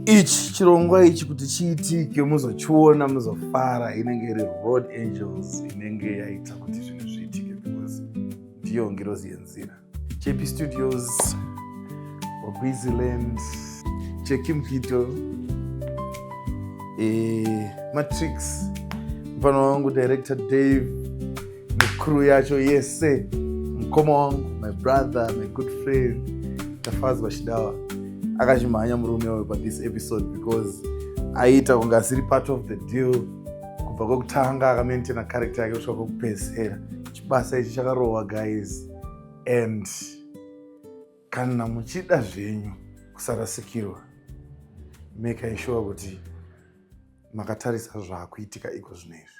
ichi chirongwa ichi kuti chiitike muzochiona muzofara inenge iri road angels inenge yaita kuti zvinhu zviitike because ndiyo ngirozi yenzira jp studios wabwiziland chekimkito e, eh, matrix mfana wangu director dave necrew yacho yese mukoma wangu my brother my good friend tafadzwa chidawa akachimhanya murume uyo pathis episode because aiita kunge asiri part of the deal kubva kwekutanga akamaintaina character yake kusvika kwekupedzisera chibasa ichi chakarohwa guys and kana muchida zvenyu kusarasikirwa make sure kuti makatarisa zvaakuitika iko zvino izvi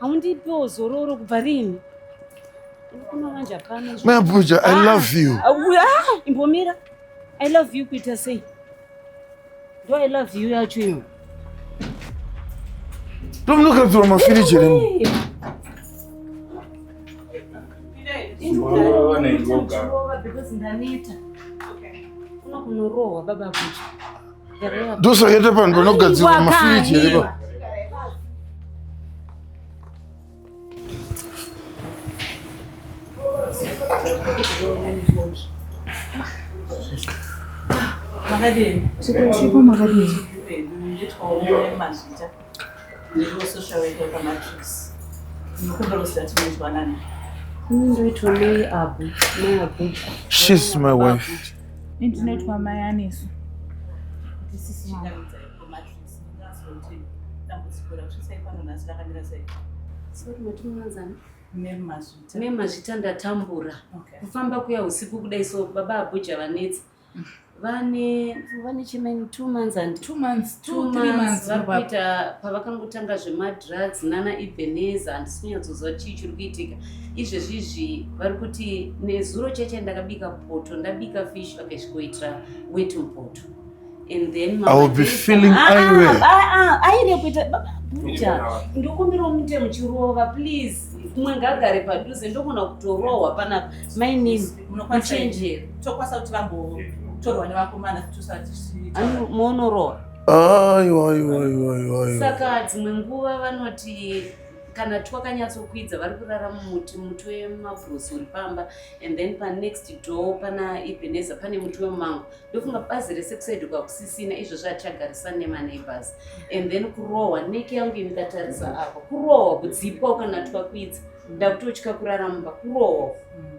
haundipiwo zororo kubva rini unokunamanja pano mabuja i ah, love you ah, ah, imbomira i love you kuita sei ndo i love you yacho iyo ndomunokadzirwa mafiriji remu Because Danita, unakunorohwa baba kucha. ndosakete panhu panogadzirwa mafiriji here pa Makadini? Chikoro chiko makadini? Ndiko social worker pamatrix. Ndikumbira kusati munzwanana. Ndoitwa mai abu, mai abuja. She's my wife. Ndinoitwa mai anesu. This is my wife. Mema zvita ndatambura kufamba kuya usiku kudai so baba abuja vanetsa vane vane chimene two months and two months two three months vari kuita pavakangotanga zvemadrugs nana ebeneza handisikunyatsozva chii chiri kuitika izvezvi izvi vari kuti nezuro cheche ndakabika poto ndabika fish vakasvikoitira wet mupoto and then ah, ah, aire kuita buja ndokumbirawo mute muchirova please umwe ngagare padhuze ndogona kutorohwa panapa mainini muchenjeri tokwanisa kuti vambotorwa nevakomana moonoroora saka dzimwe nguva vanoti kana twakanyatsokwidza vari kurara mumuti muti wemabhurosi uri pamba and then panext door pana ebeneza pane muti wemango ndofunga bazi rese kusaidikwa kusisina izvozvo hatichagarisani nemaneighbors and then kurohwa neke yangu imikatarisa apa kurohwa kudzipwa ukanatwakwidza ndakutotya kurara mumba kurohwa mm.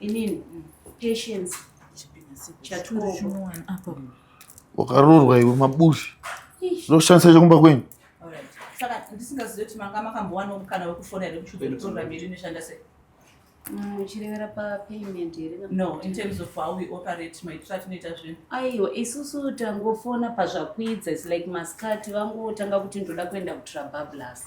inini patience chatinoapa wakarorwa iwe mabushi zvinoshandisa chekumba kwenyu saka ndisingazive kuti manga makambowana mukana wekufona here kuchudzotora mbiri inoshanda sei muchirevera mm, papayment here no in terms of how we operate maitiro atinoita zvinhu aiwa isusu tangofona pazvakwidza is like maskati vangotanga kuti ndoda kuenda kutrabablas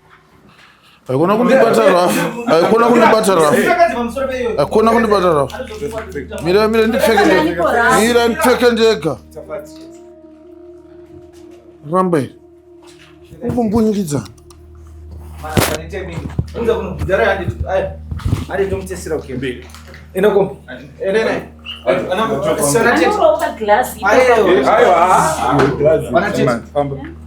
Haikona kundibata rafu. Haikona kundibata rafu. Haikona kundibata rafu. Mira mira ndipfeke ndega. Mira ndipfeke ndega. Ramba iri. Ukumbunyikidza.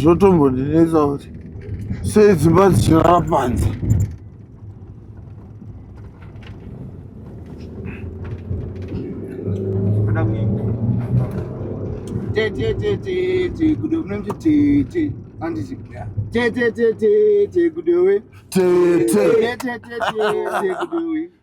zvotombondinetsa kuti sei dzimba dzichirara panze tete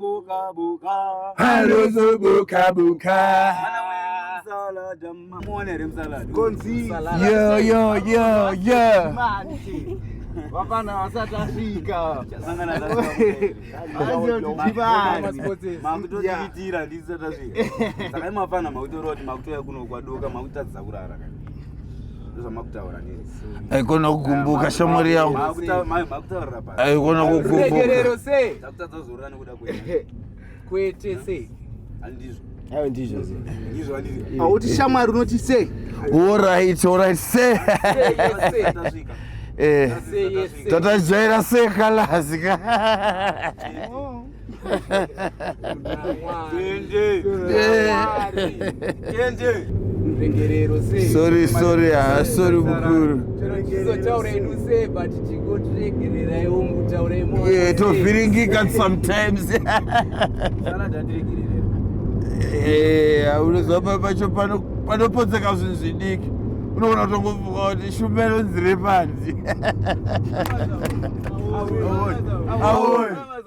buka buka halozo buka buka yo yo yo yo vapana vasati asvika makutotiitira ndisati asvika sakai mapana makutoroti makutoya kuno kwadoka makutadzisa kurara ndozvamakutaura ndii aikona kukumbuka shamwari yangu aikona kukumbukaregerero sei kwete sei ayo ndizvo auti shamwari unoti sei orit orit se tatazvaira sekalazika sorry sorry ah, sorry mukuru eh, tovhiringika sometimes unozwa eh, pacho panopotseka zvinhu zvidiki unoona kutongofunga kuti shumba inonzire panzi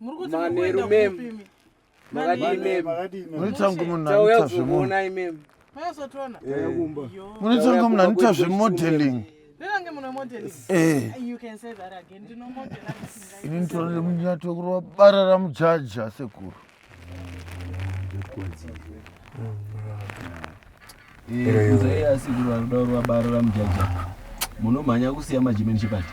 manheru mem makadiimunotsangu munhu anoita zvemunai mem munotsangu munhu anoita zvemodeling ini nditoro nemunyato kurova bara ramujaji asekuru asekuru anoda kurova bara ramujaji munomhanya kusiya majimeni chipati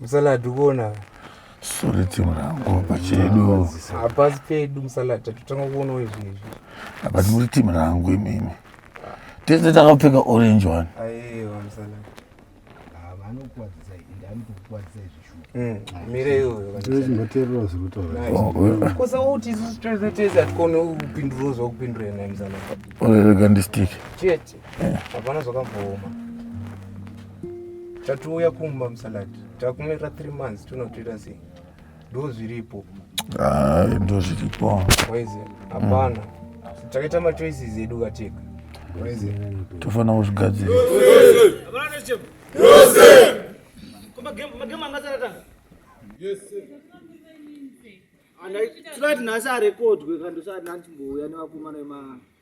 Musalad ukuona suri timu rangu pachedu hapasi pedu musalad tatotanga kuonawo izvi izvi but muri timu rangu imimi tese takapfeka orange one aiwa musalad vanokuwadzisa ende anotokuwadzisa izvi mireyozvakupidurozakupidurenaimzanaorerega ndistike chete hapana zvakambooma tatouya kumba musalati takumirira three months tonotoita sei ndo zviripo ah, ndo zviripo waize hapana mm. takaita machoices edu kateka waize tofanira kuzvigadzira tinoati nhasi arekodwe kandosati nandimbouya nevakomana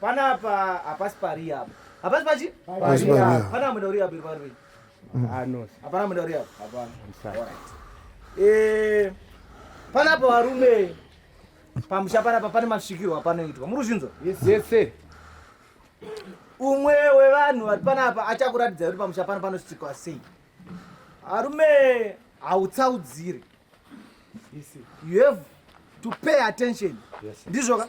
Panapa hapasi pari apa. Hapasi pachi? Hapasi pari apa. Pana amwenda uri apa iri pari. Mm. Ah no. Hapana amwenda uri apa. Hapana. All right. Eh panapa varume pamusha panapa pane masvikirwa panoitwa muri kuzvinzwa yese umwe wevanhu vari panapa achakuratidza kuti pamusha pano panosvikwa sei arume hautsaudzire you have to pay attention ndizvoka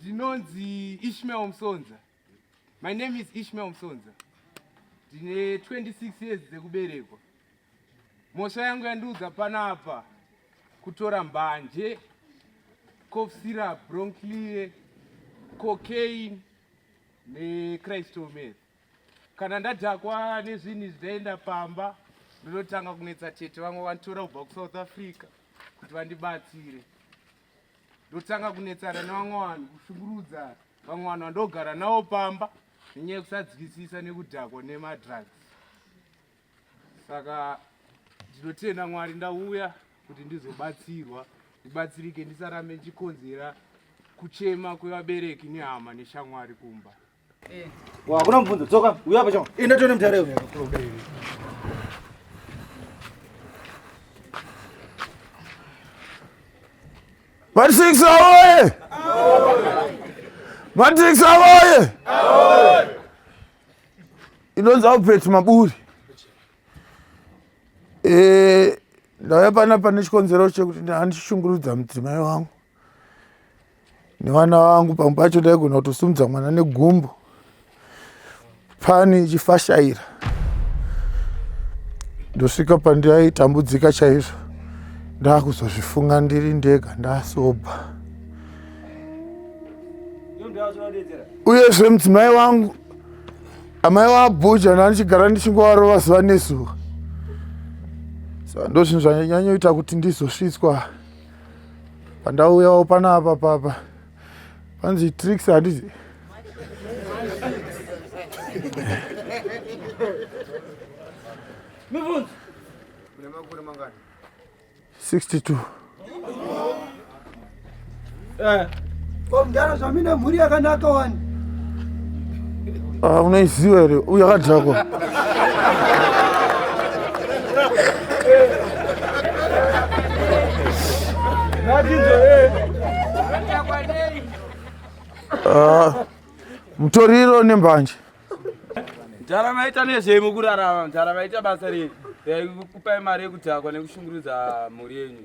ndinonzi ishmael musonza my name is ishmael musonza ndine 26 years dzekuberekwa mhosva yangu yandiudza panapa kutora mbanje cof syrup bronclie cocaine necrystometh kana ndadhakwa nezvinhu zvidaenda pamba ndinotanga kunetsa tete vamwe vanditora kubva kusouth africa kuti vandibatsire ndotanga kunetsana nevamwe vanhu kushungurudza vamwe vanhu vandogara navo pamba nenyaya yekusadzikisisa nekudhakwa nemadrugs saka ndinotenda mwari ndauya kuti ndizobatsirwa ndibatsirike ndisarambe ndichikonzera kuchema kwevabereki nehama neshamwari kumba Hakuna eh. mubvunzo, dzoka, uya pacho. Enda tione mutare uyu. Matrix awoye! Matrix awoye! Inonzi Albert Maburi. Eh, ndauya pana pane chikonzero chekuti handishungurudza mudzimai wangu. nevana vangu pamwe pacho ndaigona kutosumudza mwana negumbo pani ichifashaira ndosvika pandaitambudzika chaizvo ndakuzozvifunga ndiri ndega ndasobha uyezve mudzimai wangu amai wabhuja ndandichigara ndichingovarova zuva nezuva so ndozvinhu zvanyanyoita kuti ndizosvitswa pandauyawo panapa papa panzi tricks handizi mibvunzo 62 eh. Ko mdara zvamine mhuri yakanaka wani. Ah, unaiziva here uyu akadhakwa ah, mutoriro nembanje mdhara maita nezvei mukurarama mdhara maita basa rei yaikupai mari yekudhakwa nekushungurudza mhuri yenyu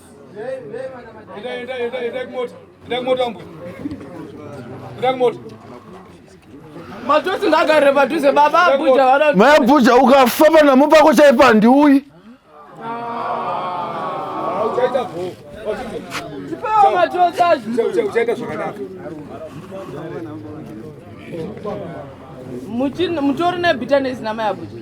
Matusi ngagare padhuze baba abuja vana. Mai abuja ukafa panamu pako chaipa handiuyi. Uchaita bho. Tipewo matusi azvo. Uchaita zvakanaka. Mutori nebitanesi namai abuja.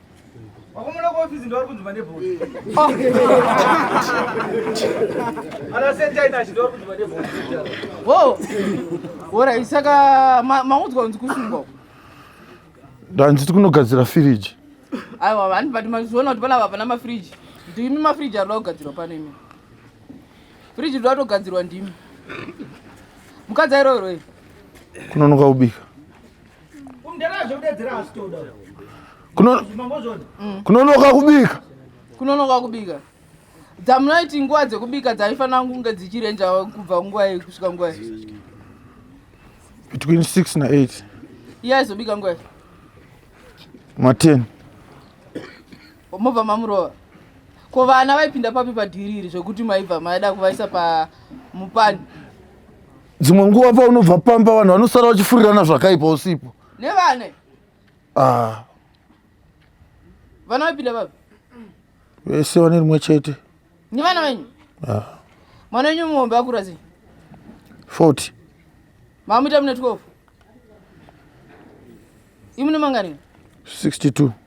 wakomona kuofisi ndovari kunzuma nebhoti anasentainachi ndovari kunzuma nebhoti o orai saka maudzwa kunzi kusungwa uko ndanzi ti kunogadzira firiji aiwa vani but mazviona kuti panapa pana mafiriji kuti imi mafiriji arida kugadzirwa pano imi firiji rida kutogadzirwa ndimi mukadzi airoiroi kunonoka kubika kunonoka kubika kunonoka kubika dzamunoiti nguva dzekubika dzaifanira kunge dzichirenja kubva nguva yei kusvika nguva yei between six na eight iye aizobika nguva yei maten mobva mamurova ko vana vaipinda papi padhiri iri zvekuti maibva maida kuvaisa pamupani dzimwe nguva paunobva pamba vanhu vanosara vachifurirana zvakaipa usipo nevane ah, vana vapinda vapi vese vane rimwe chete nevana venyu ah, mwana wenyu muhombe akura sei 40 maamuita mune 12 imune mangani 62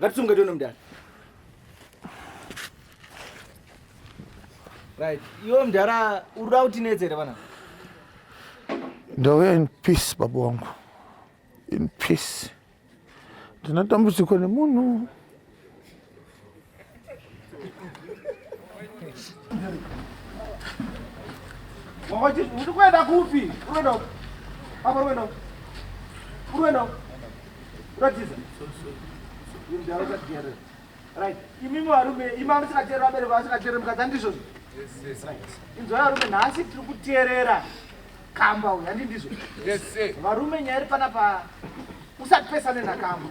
Ngatisunge tone mdara. Right. Iwe mdara uruda kuti nedzere bana. Ndauya in peace baba wangu. In peace. Ndina dambudziko nemunhu. Uruenda kupi? Uruenda upi? Apa uruenda upi? Uruenda upi? Uratiza. Iri ndau dzakugere. Right. Imimi varume, imi amusikateerera vabereki vasikateerera mukadzi andizvo zvo. Inzwa varume nhasi tiri kuteerera kamba uyu handi ndizvo. Varume nyaya iri panapa usati pesane nakamba.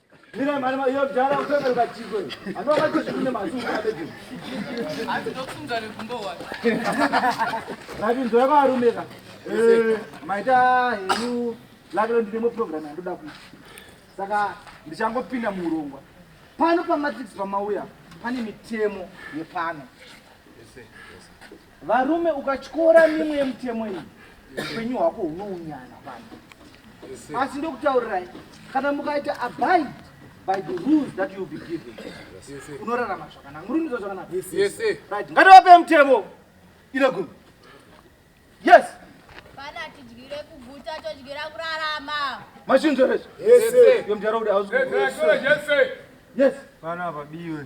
Mira mari ma yo jara u pepera ka chiko. Ano ka chiko ne masu ka beti. Asi ndokusunga ne kumbo wa. Rabi ndo ka rumeka. Eh, maita henu lakelo ndine mu program ndoda ku. Saka ndichangopinda muurongwa. Pano pa matrix pamauya pane mitemo yepano. Yes sir. Varume ukatyora mimwe yemutemo iyi upenyu hwako hunounyana pano. Asi ndokutaurirai kana mukaita abide by the rules that you be given unorarama zvakanaka. Muri kuita zvakanaka? Yes, yes. Right. Ngativape mutemo ine gumi. Yes. Pana tidyire kuguta todyira kurarama. Machinzwa rezvo? Yes. Yomudhara kuti hausi. Yes. Yes. Pana vabiwe.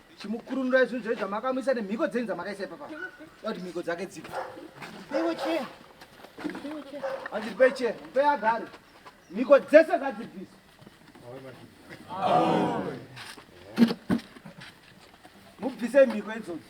chimukurunurai zvinhu zvoizva makamuisa nemhiko dzenyu dzamakaisa ipapa kuti mhiko dzake dzibva peiwo chea peiwo chea hanzi pei chea pei agare mhiko dzese ngadzibvisa mubvise mhiko idzodzo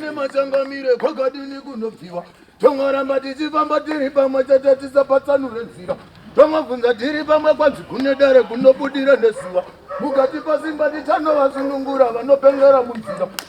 nemachangamire kwakadini kunobviwa tongoramba tichifamba tiri pamwe chete tisapatsanure nzira tongobvunza tiri pamwe kwanzi kune dare kunobudira nezuva mukati pasimba tichanovasunungura vanopengera munzira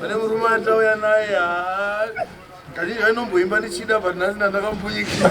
pane murume atauya naye kazhinji vainomboimba ndichida but nhasi ndandakambunyikisa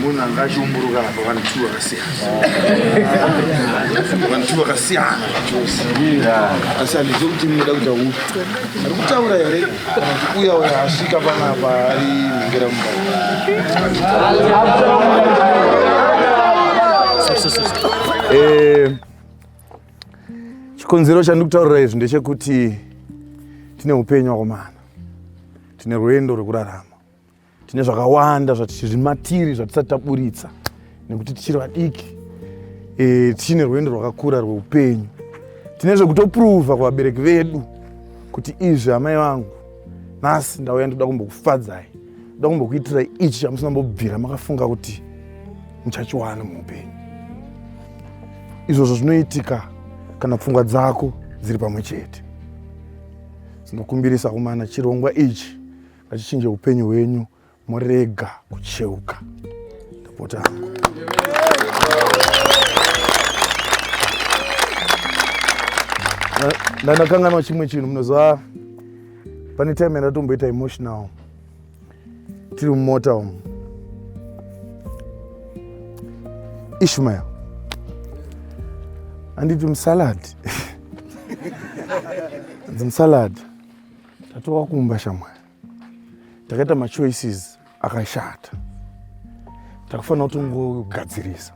Munhu anga achiumburuka apa vanhu two vakasiyana. Vanhu two vakasiyana chose. Asi handizivi kuti munoda kuita upi. Ari kutaura here kana kuti uya uya asvika panapa ari mhengera mumba. Eh, chikonzero chandikutaurira izvi ndechekuti tine upenyu wakomana tine rwendo rwekurarama tine zvakawanda zvatiri matiri zvatisati taburitsa nekuti tichiri vadiki e, tichine rwendo rwakakura rweupenyu tine zvekutopruvha kuvabereki vedu kuti izvi amai vangu nhasi ndauya ndoda kumbokufadzai ndoda kumbokuitirai ichi chamusina mbobvira makafunga kuti muchachiwana muupenyu izvozvo zvinoitika kana pfungwa dzako dziri pamwe chete dzinokumbirisa kumana chirongwa ichi achichinje upenyu hwenyu morega kucheuka ndapota hangu ndanakanganwa chimwe chinhu munoziva pane time yandatomboita emotional tiri mumota umu ishmael anditi musalad anzi musalad Tatova kumba shamwari, takaita machoices akashata, takufanira kutongogadzirisa.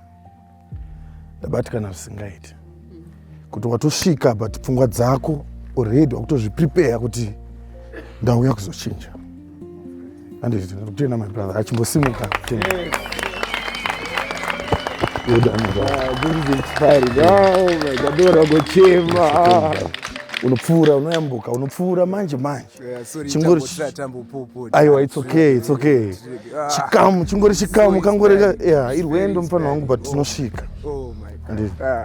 Ndabatikana zvisingaiti kuti watosvika but pfungwa dzako already wakutozviprepare kuti ndauya kuzochinja. anditenda my brother achimbosimuka unopfuura unoyambuka unopfuura manje manje chingori aiwa its okay its okay ah. chikamu chingori chikamu kangorega irwendo mufana wangu but tinosvika oh, ah.